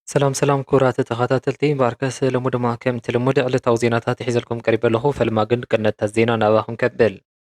ሰላም ሰላም ክቡራት ተኸታተልቲ ባርከስ ሎሚ ድማ ከምቲ ልሙድ ዕለታዊ ዜናታት ሒዘልኩም ቀሪበ ኣለኹ። ፈለማ ግን ቅነታት ዜና ናባኹም ከብል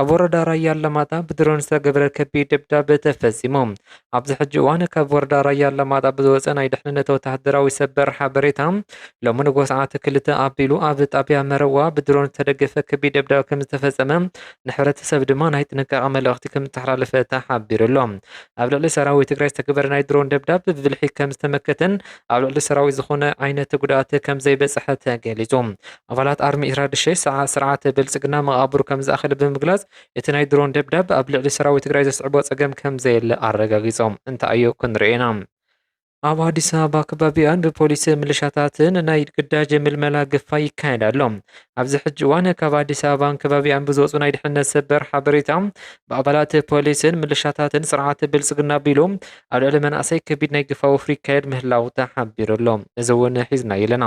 ኣብ ወረዳ ራያ ኣላማጣ ብድሮን ዝተገበረ ከቢድ ደብዳብ ተፈጺሙ። ኣብዚ ሕጂ እዋን ካብ ወረዳ ራያ ኣላማጣ ብዝወፀ ናይ ድሕንነት ወተሃደራዊ ሰበር ሓበሬታ ሎሚ ንጎ ሰዓት ክልተ ኣቢሉ ኣብ ጣብያ መረዋ ብድሮን ዝተደገፈ ከቢድ ደብዳብ ከም ዝተፈጸመ ንሕብረተሰብ ድማ ናይ ጥንቃቐ መልእኽቲ ከም ዝተሓላለፈ ተሓቢሩ ኣሎ። ኣብ ልዕሊ ሰራዊት ትግራይ ዝተገበረ ናይ ድሮን ደብዳብ ብብልሒ ከም ዝተመከተን ኣብ ልዕሊ ሰራዊት ዝኾነ ዓይነት ጉድኣት ከም ዘይበጽሐ ተገሊጹ። ኣባላት ኣርሚ ኤርትራ ድሸ ሰዓት ስርዓት ብልጽግና መቓብሩ ከም ዝኣኸለ ብምግላጽ፣ እቲ ናይ ድሮን ደብዳብ ኣብ ልዕሊ ሰራዊት ትግራይ ዘስዕቦ ጸገም ከም ዘየለ ኣረጋጊጾም። እንታይዮ ክንሪኦ ኢና? ኣብ ኣዲስ ኣበባ ከባቢኣን ብፖሊስ ምልሻታትን ናይ ግዳጅ ምልመላ ግፋ ይካየድ ኣሎ። ኣብዚ ሕጂ እዋን ካብ ኣዲስ ኣበባን ከባቢኣን ብዝወጹ ናይ ድሕነት ሰበር ሓበሬታ ብኣባላት ፖሊስን ምልሻታትን ስርዓት ብልጽግና ኣቢሉ ኣብ ልዕሊ መናእሰይ ከቢድ ናይ ግፋ ወፍሪ ይካየድ ምህላው ተሓቢሩ ኣሎ። እዚ እውን ሒዝናዮ ኣለና።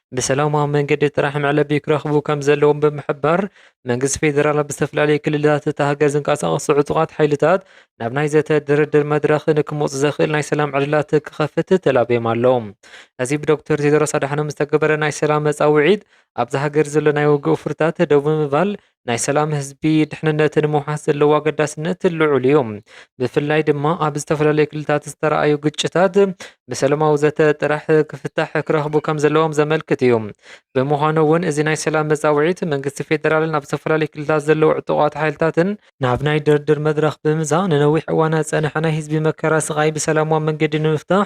ብሰላማዊ መንገዲ ጥራሕ መዕለቢ ክረኽቡ ከም ዘለዎም ብምሕባር፣ መንግስቲ ፌደራል ኣብ ዝተፈላለዩ ክልላት እታ ሃገር ዝንቀሳቐሱ ዕጡቓት ሓይልታት ናብ ናይ ዘተ ድርድር መድረኽ ንክመፁ ዘኽእል ናይ ሰላም ዕድላት ክኸፍት ተላብዮም ኣለዉ። እዚ ብዶክተር ቴድሮስ ኣድሓኖም ዝተገበረ ናይ ሰላም ፃውዒት፣ ኣብዛ ሃገር ዘሎ ናይ ውግእ ፉርታት ደው ብምባል ናይ ሰላም ህዝቢ ድሕንነት ንምውሓስ ዘለዎ ኣገዳስነት ልዑል እዩ። ብፍላይ ድማ ኣብ ዝተፈላለዩ ክልታት ዝተረኣዩ ግጭታት ብሰላማዊ ዘተ ጥራሕ ክፍታሕ ክረኽቡ ከም ዘለዎም ዘመልክት እዩ። ብምዃኑ እውን እዚ ናይ ሰላም መፃውዒት መንግስቲ ፌዴራልን ኣብ ዝተፈላለዩ ክልታት ዘለዉ ዕጡቓት ሓይልታትን ናብ ናይ ድርድር መድረኽ ብምምፃእ ንነዊሕ እዋናት ዝፀንሐ ናይ ህዝቢ መከራ ስቓይ ብሰላማዊ መንገዲ ንምፍታሕ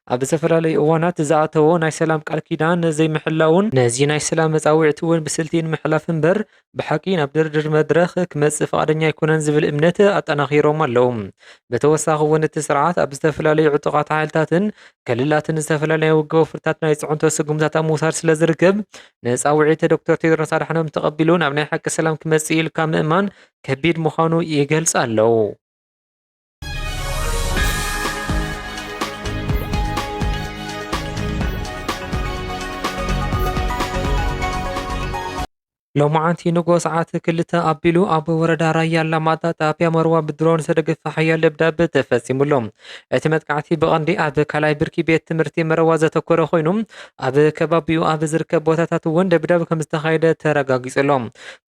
ኣብ ዝተፈላለዩ እዋናት ዝኣተዎ ናይ ሰላም ቃል ኪዳን ዘይምሕላውን ነዚ ናይ ሰላም መጻውዒቲ እውን ብስልቲ ንምሕላፍ እምበር ብሓቂ ናብ ድርድር መድረኽ ክመጽእ ፍቓደኛ ኣይኮነን ዝብል እምነት ኣጠናኺሮም ኣለዉ። ብተወሳኺ እውን እቲ ስርዓት ኣብ ዝተፈላለዩ ዕጡቓት ሓይልታትን ክልላትን ዝተፈላለዩ ናይ ውግእ ወፍርታት ናይ ጽዕንቶ ስጉምታት ኣብ ምውሳድ ስለዝርከብ ንጻውዒት ዶክተር ቴድሮስ ኣድሓኖም ተቐቢሉ ናብ ናይ ሓቂ ሰላም ክመጽእ ኢልካ ምእማን ከቢድ ምዃኑ ይገልጽ ኣለዉ። ሎማዓንቲ ንግሆ ሰዓት ክልተ ኣቢሉ ኣብ ወረዳ ራያ ኣላማጣ ጣብያ መርዋ ብድሮን ዝተደገፈ ሓያል ደብዳብ ተፈፂሙሎ። እቲ መጥቃዕቲ ብቐንዲ ኣብ ካልኣይ ብርኪ ቤት ትምህርቲ መረዋ ዘተኮረ ኮይኑ ኣብ ከባቢኡ ኣብ ዝርከብ ቦታታት እውን ደብዳብ ከምዝተኻየደ ተረጋጊፁሎ።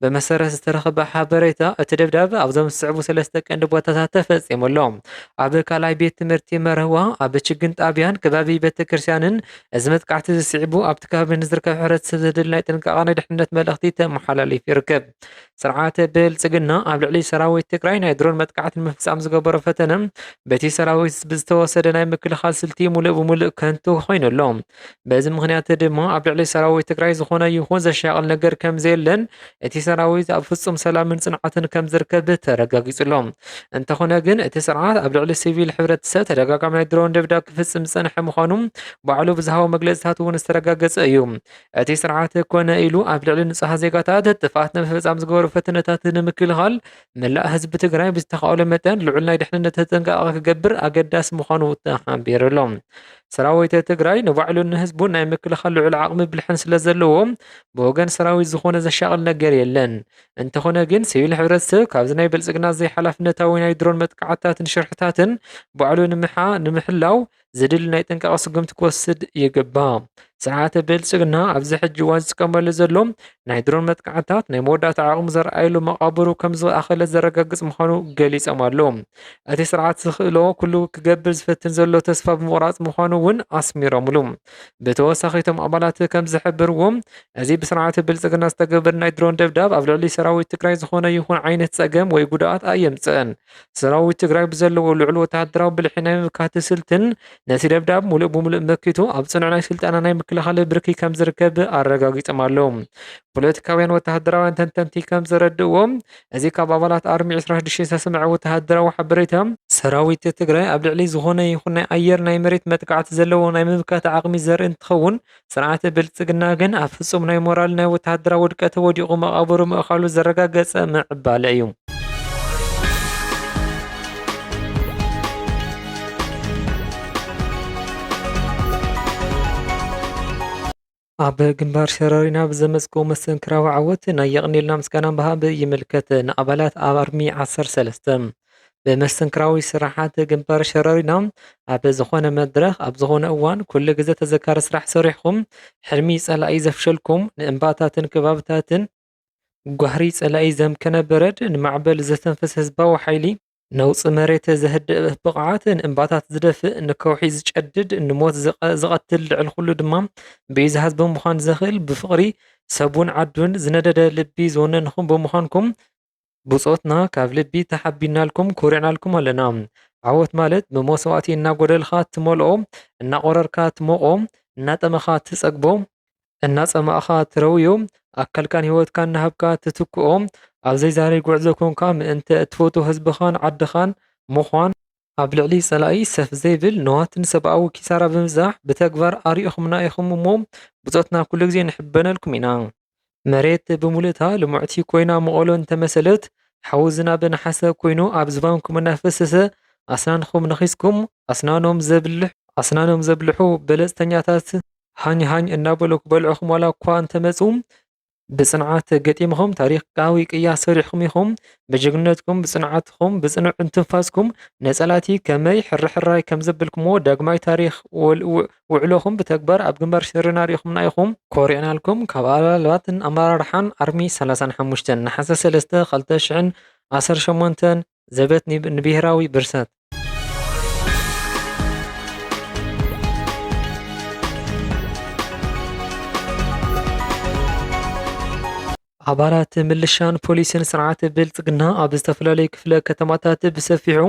ብመሰረት ዝተረኽበ ሓበሬታ፣ እቲ ደብዳብ ኣብዞም ዝስዕቡ ሰለስተ ቀንዲ ቦታታት ተፈጺሙ ኣሎ። ኣብ ካልኣይ ቤት ትምህርቲ መርህዋ፣ ኣብ ችግኝ ጣብያን ከባቢ ቤተክርስትያንን፣ እዚ መጥቃዕቲ እዚ ስዒቡ ኣብቲ ከባቢ ንዝርከብ ሕብረተሰብ ዘድሊ ናይ ጥንቃቐ ናይ ድሕንነት መልእኽቲ ተመሓላሊፉ ይርከብ። ስርዓት ብልጽግና ኣብ ልዕሊ ሰራዊት ትግራይ ናይ ድሮን መጥቃዕቲ ንምፍጻም ዝገበሮ ፈተነ በቲ ሰራዊት ብዝተወሰደ ናይ ምክልኻል ስልቲ ሙሉእ ብሙሉእ ከንቱ ኮይኑ ኣሎ። በዚ ምክንያት ድማ ኣብ ልዕሊ ሰራዊት ትግራይ ዝኾነ ይኹን ዘሻቕል ነገር ከም ዘየለን እቲ ሰራዊት ኣብ ፍጹም ሰላምን ጽንዓትን ከም ዝርከብ ተረጋጊጹሎ። እንተኾነ ግን እቲ ስርዓት ኣብ ልዕሊ ሲቪል ሕብረተሰብ ተደጋጋሚ ናይ ድሮን ደብዳብ ክፍጽም ዝጸንሐ ምዃኑ ባዕሉ ብዝሃቦ መግለጽታት እውን ዝተረጋገጸ እዩ። እቲ ስርዓት ኮነ ኢሉ ኣብ ልዕሊ ንጹሃት ዜጋታት ጥፍኣት ንምፍጻም ዝገበሩ ፈተነታት ንምክልኻል መላእ ህዝቢ ትግራይ ብዝተኻእሎ መጠን ልዑል ናይ ድሕንነት ተጠንቀቓ ክገብር ኣገዳሲ ምዃኑ ተሓቢሩሎም። ሰራዊተ ትግራይ ንባዕሉን ንህዝቡን ናይ ምክልኻል ልዑል ዓቕሚ ብልሕን ስለዘለዎ ብወገን ሰራዊት ዝኾነ ዘሻቕል ነገር የለን። እንተኾነ ግን ሲቪል ሕብረተሰብ ካብዚ ናይ ብልፅግና ዘይሓላፍነታዊ ናይ ድሮን መጥቃዕትታትን ሽርሕታትን ባዕሉ ንምሓ ንምሕላው ዘድሊ ናይ ጥንቃቐ ስጉምቲ ክወስድ ይግባእ። ስርዓተ ብልፅግና ኣብዚ ሕጂ እዋን ዝጥቀመሉ ዘሎ ናይ ድሮን መጥቃዕትታት ናይ መወዳእታ ዓቕሙ ዘርኣየሉ መቓብሩ ከም ዝኣኸለ ዘረጋግጽ ምዃኑ ገሊጾም ኣለዉ። እቲ ስርዓት ዝኽእሎ ኩሉ ክገብር ዝፈትን ዘሎ ተስፋ ብምቑራጽ ምዃኑ እውን ኣስሚሮምሉ። ብተወሳኺ እቶም ኣባላት ከም ዝሕብርዎ እዚ ብስርዓት ብልጽግና ዝተገብር ናይ ድሮን ደብዳብ ኣብ ልዕሊ ሰራዊት ትግራይ ዝኾነ ይኹን ዓይነት ጸገም ወይ ጉድኣት ኣየምጽእን። ሰራዊት ትግራይ ብዘለዎ ልዑል ወተሃደራዊ ብልሒ ናይ ምምካት ስልትን ነቲ ደብዳብ ሙሉእ ብሙሉእ መኪቱ ኣብ ፅኑዕ ናይ ስልጠና ናይ ምክልኻል ብርኪ ከም ዝርከብ ኣረጋጊፆም ኣለዉ። ፖለቲካውያን ወተሃደራውያን ተንተንቲ ከም ዘረድእዎ እዚ ካብ ኣባላት ኣርሚ 26 ዝተሰምዐ ወተሃደራዊ ሓበሬታ ሰራዊት ትግራይ ኣብ ልዕሊ ዝኾነ ይኹን ናይ ኣየር ናይ መሬት መጥቃዕቲ ዘለዎ ናይ ምምካት ዓቕሚ ዘርኢ እንትኸውን ስርዓት ብልጽግና ግን ኣብ ፍጹም ናይ ሞራል ናይ ወተሃደራዊ ውድቀት ወዲቑ መቓብሩ ምእኻሉ ዘረጋገጸ ምዕባለ እዩ። ኣብ ግንባር ሸረሪና ብዘመዝገቡ መስተንክራዊ ዓወት ናይ የቕኔልና ምስጋና ምሃብ ይምልከት። ንኣባላት ኣርሚ ዓሰርተ ሰለስተ ብመስተንክራዊ ስራሓት ግንባር ሸረሪና ኣብ ዝኾነ መድረኽ ኣብ ዝኾነ እዋን ኩሉ ግዘ ተዘካሪ ስራሕ ሰሪሕኹም ሕልሚ ፀላኢ ዘፍሸልኩም ንእምባታትን ከባብታትን ጓህሪ ጸላኢ ዘምከነ በረድ ንማዕበል ዘተንፍስ ህዝባዊ ሓይሊ ነውፂ መሬት ዘህድእ ብቕዓት ንእምባታት ዝደፍእ ንከውሒ ዝጨድድ ንሞት ዝቐትል ልዕሊ ኩሉ ድማ ብዩ ዝሃዝ ብምዃን ዘኽእል ብፍቕሪ ሰቡን ዓዱን ዝነደደ ልቢ ዝወነንኹም ብምዃንኩም ብጾትና ካብ ልቢ ተሓቢንናልኩም ኩሪዕናልኩም ኣለና። ዓወት ማለት ብመስዋእቲ እናጎደልኻ ትመልኦ፣ እናቆረርካ ትሞቆ፣ እናጠመኻ ትጸግቦ፣ እናጸማእኻ ትረውዮ፣ ኣካልካን ህይወትካን እናሃብካ ትትክኦ፣ ኣብ ዘይዛረይ ጉዕዞ ኮንካ ምእንተ እትፈትዎ ህዝብኻን ዓድኻን ምዃን፣ ኣብ ልዕሊ ጸላኢ ሰፍ ዘይብል ንዋትን ሰብኣዊ ኪሳራ ብምብዛሕ ብተግባር ኣርኢኹምና ኢኹም እሞ ብጾትና ኩሉ ግዜ ንሕበነልኩም ኢና። መሬት ብምሉእታ ልሙዕቲ ኮይና መቐሎ እንተመሰለት፣ ሓዊ ዝናብ ነሓሰ ኮይኑ ኣብ ዝባንኩም እናፈሰሰ ኣስናንኹም ነኺስኩም፣ ኣስናኖም ዘብልሕ፣ ኣስናኖም ዘብልሑ በለጽተኛታት ሃኝ ሃኝ እናበሉ ክበልዑኹም ዋላ'ኳ እንተመጹ፣ ብጽንዓት ገጢምኹም ታሪኻዊ ቅያ ሰሪሕኩም ኢኹም። ብጅግንነትኩም፣ ብጽንዓትኩም፣ ብጽኑዕ እንትንፋስኩም ንጸላእቲ ከመይ ሕርሕራይ ከም ዘብልኩምዎ ዳግማይ ታሪኽ ውዕሎኹም ብተግባር ኣብ ግንባር ሽርና ኣርኢኹምና ኢኹም። ኮሪዕናልኩም ካብ ኣባላትን ኣመራርሓን ኣርሚ ሰላሳን ሓሙሽተን፣ ነሓሰ ሰለስተ ክልተ ሽሕን ዓሰርተ ሸሞንተን፣ ዘበት ንብሄራዊ ብርሰት! ኣባላት ምልሻን ፖሊስን ስርዓት ብልፅግና ኣብ ዝተፈላለዩ ክፍለ ከተማታት ብሰፊሑ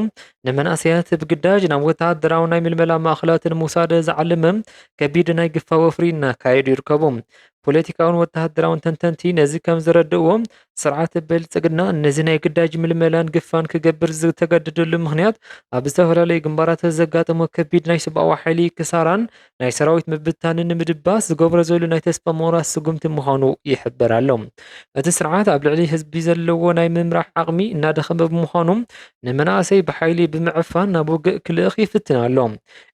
ንመናእሰያት ብግዳጅ ናብ ወተሃደራዊ ናይ ምልመላ ማእኸላት ንምውሳድ ዝዓለመ ከቢድ ናይ ግፋ ወፍሪ እናካየዱ ይርከቡ። ፖለቲካውን ወተሃደራውን ተንተንቲ ነዚ ከም ዝረድእዎ፣ ስርዓት ብልጽግና ነዚ ናይ ግዳጅ ምልመላን ግፋን ክገብር ዝተገደደሉ ምኽንያት፣ ኣብ ዝተፈላለዩ ግንባራት ዘጋጠሞ ከቢድ ናይ ሰብኣዊ ሓይሊ ክሳራን ናይ ሰራዊት ምብትታንን ንምድባስ ዝገብሮ ዘሎ ናይ ተስፋ ምቑራጽ ስጉምቲ ምዃኑ ይሕበር ኣሎ። እቲ ስርዓት ኣብ ልዕሊ ህዝቢ ዘለዎ ናይ ምምራሕ ዓቕሚ እናደኸመ ብምዃኑ፣ ንመናእሰይ ብሓይሊ ብምዕፋን ናብ ውግእ ክልእኽ ይፍትን ኣሎ።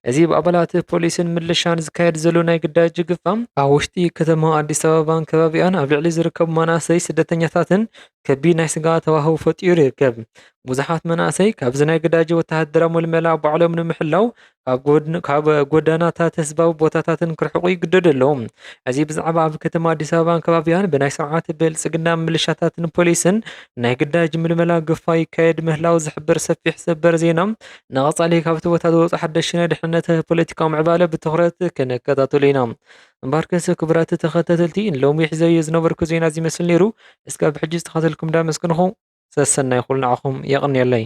እዚ ብኣባላት ፖሊስን ምልሻን ዝካየድ ዘሎ ናይ ግዳጅ ጅግፋ፣ ኣብ ውሽጢ ከተማ ኣዲስ ኣበባን ከባቢኣን ኣብ ልዕሊ ዝርከቡ መናእሰይ ስደተኛታትን ከቢድ ናይ ስግኣት ሃዋህው ፈጢሩ ይርከብ። ብዙሓት መናእሰይ ካብዚ ናይ ግዳጅ ወተሃደራዊ ምልመላ ባዕሎም ንምሕላው ካብ ጎዳናታት ህዝባዊ ቦታታትን ክርሕቁ ይግደዱ ኣለዉ። እዚ ብዛዕባ ኣብ ከተማ ኣዲስ ኣበባን ከባቢኣን ብናይ ስርዓት ብልጽግና ምልሻታትን ፖሊስን ናይ ግዳጅ ምልመላ ግፋ ይካየድ ምህላው ዝሕብር ሰፊሕ ሰበር ዜና ንቐፃሊ ካብቲ ቦታ ዝወፁ ሓደሽቲ ናይ ድሕንነት ፖለቲካዊ ምዕባለ ብትኹረት ክንከታተሎ ኢና። እምበኣር ክንሰ ክቡራት ተኸታተልቲ ንሎሚ ሒዘዮ ዝነበርኩ ዜና እዚ ይመስል ነይሩ። እስካብ ሕጂ ዝተኸታተልኩም እንዳመስገንኹ ሰሰናዩ ኩሉ ንዓኹም የቐንየለይ።